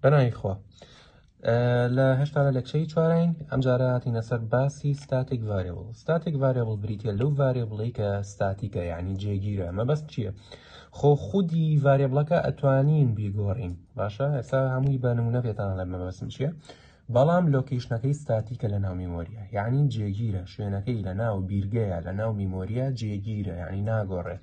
بەناوی خوا لە هشتا لە لەکچەی چوارین ئەمجارە هاتینە سەر باسی ستاتیک ڤارێبڵ ستاتیک ڤارێبڵ بریتە لەو ڤارێبڵی کە ستاتیکە یعنی جێگیرە مەبەست چییە خۆ خودی ڤارێبڵەکە ئەتوانین بیگۆڕین باشە ئێستا هەمووی بە نمونە پێتان لە مەبەستم چییە بەڵام لۆکیشنەکەی ستاتیکە لە ناو میمۆریە یعنی جێگیرە شوێنەکەی لە ناو بیرگەیە لە ناو میمۆریە جێگیرە یعنی ناگۆڕێت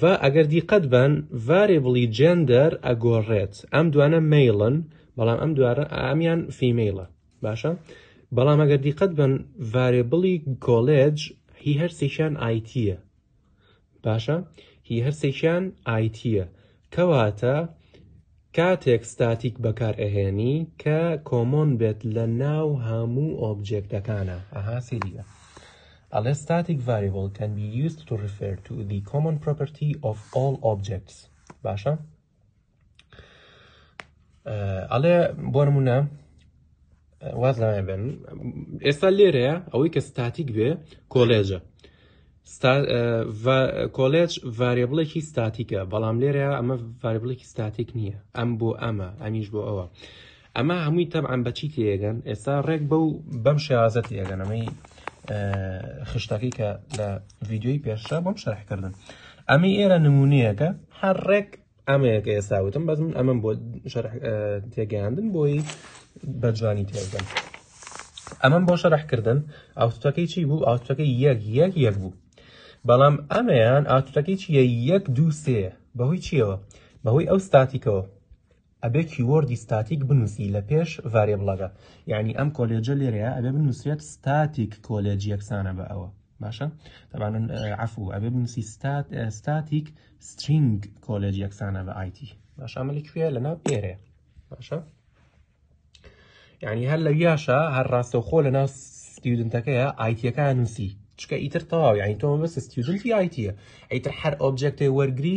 و ئەگەر دیقەت بەن ڤارێبڵی جێندەر ئەگۆڕێت ئەم دوانە مەیڵن بەڵام ئەم دوارە ئامیان فیمەیڵە باشە بەڵام ئەگەر دیقەت بەن ڤارێبڵی کۆلێج هی هەرسێکیان ئایتیە باشە هی هەرسێکیان ئایتیە کەواتە کاتێک ستاتیک بەکار ئەهێنی کە کۆمۆن بێت لە ناو هەموو ئۆبجێکتەکانا ئەها سیریە ئەڵێ ستاتیک ڤاریبڵ کەن بی یوست تو ریفێر تو دی کۆمۆن پرۆپەرتی ئۆف ئۆڵ ئۆبجێکتس باشە ئەڵێ بۆ نمونە واز لەوێ بێن ئێستا لێرەیە ئەوەی کە ستاتیک بێ کۆلێجە کۆلێج ڤارێبڵێکی ستاتیکە بەڵام لێرە ئەمە ڤاربڵێکی ستاتیک نییە ئەم بۆ ئەمە ئەمیش بۆ ئەوە ئەمە هەمووی تەبعان بەچی تێگەن ئێستا ڕێک بەو بەم شێوازەت یەگەن ئەمەی خشتەکەی کە لە ڤیددیوی پێشە بۆم شەرحکردن ئەمە ئێرە نمونونەیەەکە هەر ڕێک ئەمەیە کە ئێستا وتم بەس من ئەمەم بۆ تێگەیاندن بۆی بەجوانی تێگەن ئەمەم بۆ شەرحکردن ئاوتەکەی چی بوو ئاوتەکەی یەک یەک یەک بوو بەڵام ئەمەیان ئاوتەکەی چیە یەک دوو سێ بەهۆی چیەوە بەهۆی ئەو ستاتیکەوە ئەبێ کیوەردی ستاتیک بنووسی لە پێش ڤارێ بڵەکە یعنی ئەم کۆلێجە لێرەیە ئەبێ بنووسێت ستاتیک کۆلێج یەکسانە بە ئەوە باشە تەبان عفو ئەبێ بنووسی ستات ستاتیک سترینگ کۆلێج یەکسانە بە ئایتی باشە ئەمە لە کوێ لە ناو ئێرێ باشە یعنی هەر لە یاشە هەر ڕاستەوخۆ لە ناو ستیودنتەکەیە ئایتیەکان نووسی چکە ئیتر تەواو یعنی تۆمە بەس ستیودنتی ئایتیە ئەیتر هەر ئۆبجێکتی وەرگری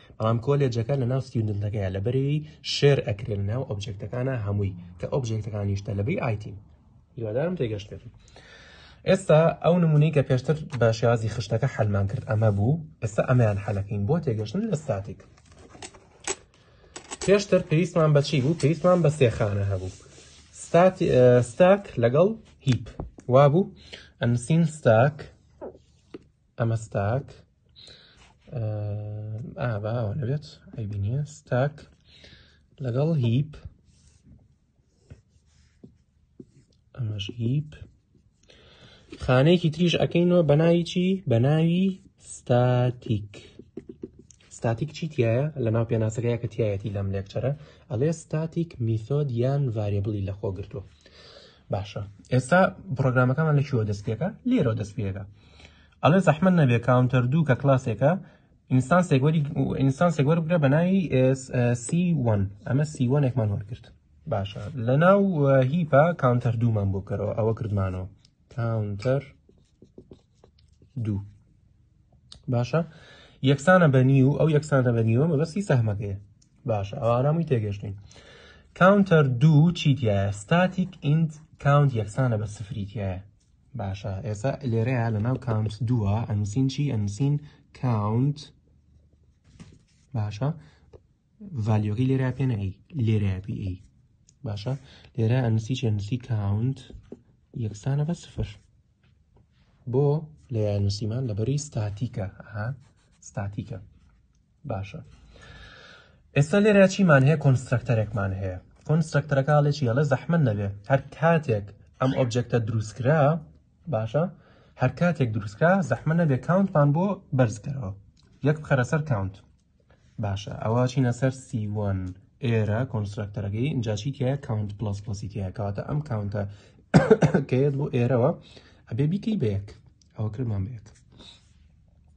بەڵام کۆلێجەکە لە ناو ستیوندنتەکەیە لە بەرەی شێر ئەکرێ لە ناو ئۆبجێکتەکانە هەمووی کە ئۆبجێکتەکانیش تەلەبەی ئایتین هیوادارم تێگەشتێت ئێستا ئەو نمونەی کە پێشتر بە شێوازی خشتەکە حەلمان کرد ئەمە بوو ئێستا ئەمەیان حەلەکەین بۆ تێگەشتن لە ستاتیک پێشتر پێویستمان بەچی بوو پێویستمان بە سێخانە هەبوو ستاک لەگەڵ هیپ وابوو ئەنسین ستاک ئەمە ستاک ئاواوە نەبێت ئەبی نیە ستاک لەگەڵ هیپ ئەمەش هیپ خانەیەکی تریش ئەەکەینەوە بەناوی چی بەناوی ستاتیک ستاتیک چی تایە لە ناو پێناسەکەی کە تایەتی لەم لێکچەرە ئەڵێ ستاتیک میثۆد یان ڤارێبلی لە خۆ گرتووە باشە ئێستا پرۆگرامەکەمان لە چوە دەستپێکە لێرە دەستپێکە ئەڵێ زەحمەت نەبێ کاونتەر دوو کە کلاسێکە ئینستانسێک وەری ئینستانسێک وەربگرە بە ناوی سی وەن ئەمە سی وەنێکمان وەرگرت باشە لە ناو هیپا کاونتەر دوومان بۆ بکەرەوە ئەوە کردمانەوە کاونتەر دوو باشە یەکسانە بە نیو ئەو یەکسانە بە نیوە مەبەستی سەهمەکەیە باشە ئەو ئارامی تێگەشتین کاونتەر دوو چیتیایە ستاتیک ئینت کاونت یەکسانە بە سفریتیایە باشە ئێستا لێرەیە لە ناو کاونت دووە ئەنووسین چی ئەنووسین کاونت باشە ڤالیۆگەی لێرە پێ نەی لێرە پی ئی باشە لێرە ئەنووسی چێنووسی کاونت یەکسانە بە سفر بۆ لە یانوسیمان لەبەری ستاتیکە ها ستاتیکە باشە ئێستا لێرە چیمان هەیە کۆنسترکتەرێکمان هەیە کۆنسترکتەرەکەڵێکی هەڵێ زەحمن نەبێ هەر کاتێک ئەم ئۆبجێکتە دروستکرا باشە هەر کاتێک دروستکرا زەحمە نەبێ کاونتمان بۆ بەرزکەرەوە یەک بخەرە سەر کاونت باشە ئەوە چینە سەر سیوان ئێرە کۆنسترکتەرەکەی ئینجاشی تە کاونت پلس پلسی تە کاتە ئەم کاونتە کەێت بۆ ئێرەوە ئەبێ بیکەی بەیەک ئەوە کرمان بێت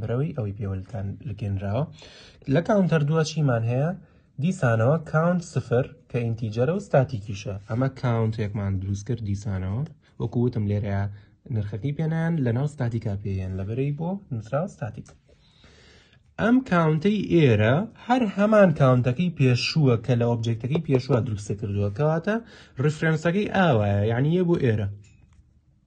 برەوی ئەوی پێوەلتان لگەنراوە لە کاونتەر دووە چیمان هەیە دیسانەوە کاونت سفر کە ئینتیجەرە و ستاتیکیشە ئەمە کاونتێکمان دروست کرد دیسانەوە وەکووتم لێرە نرخەکەی پێنان لە ناو ستاتیکا پێیان لەبەرەی بۆ نووسراو ستاتیک ئەم کاونتەی ئێرە هەر هەمان کاونتەکەی پێشووە کە لە ئۆبجێکتەکەی پێشووە دروستە کردووە کەواتە ڕفرەنسەکەی ئاوایە یعنی یە بۆ ئێرە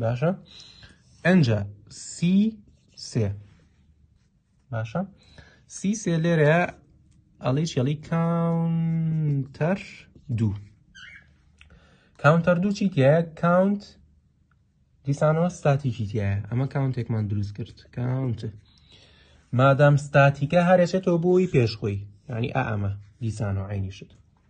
باشە ئەجا سی سێ باشە سی سێ لێرەیە ئەڵی چێڵی کاونتەر دوو کاونتەر دوو چی تایە کاونت دیسانەوە ستاتیکی تایە ئەمە کاونتێکمان دروست کرد کاونت مادام ستاتیکە هەرێچێتەوە بۆی پێشخۆی ینی ئا ئەمە دیسانەوە عینی شت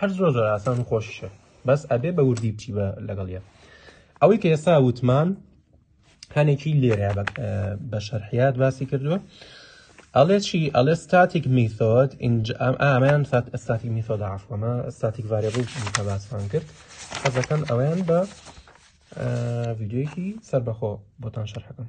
هەر زۆر زۆر ئاسان و خۆشیشە بەس ئەبێ بە وردی بچی بە لەگەڵ یە ئەوەی کە ئێستا وتمان هەنێکی لێرە بە شەرحیات باسی کردووە ئەڵێ چی ئەڵێ ستاتیک میثۆد ئامەیان ئەستاتی میثۆد عفوەمە ستاتیک ڤارێبڵ کە باسمان کرد حەزەکەم ئەویان بە ڤیددیوکی سەربەخۆ بۆتان شەرحەکەم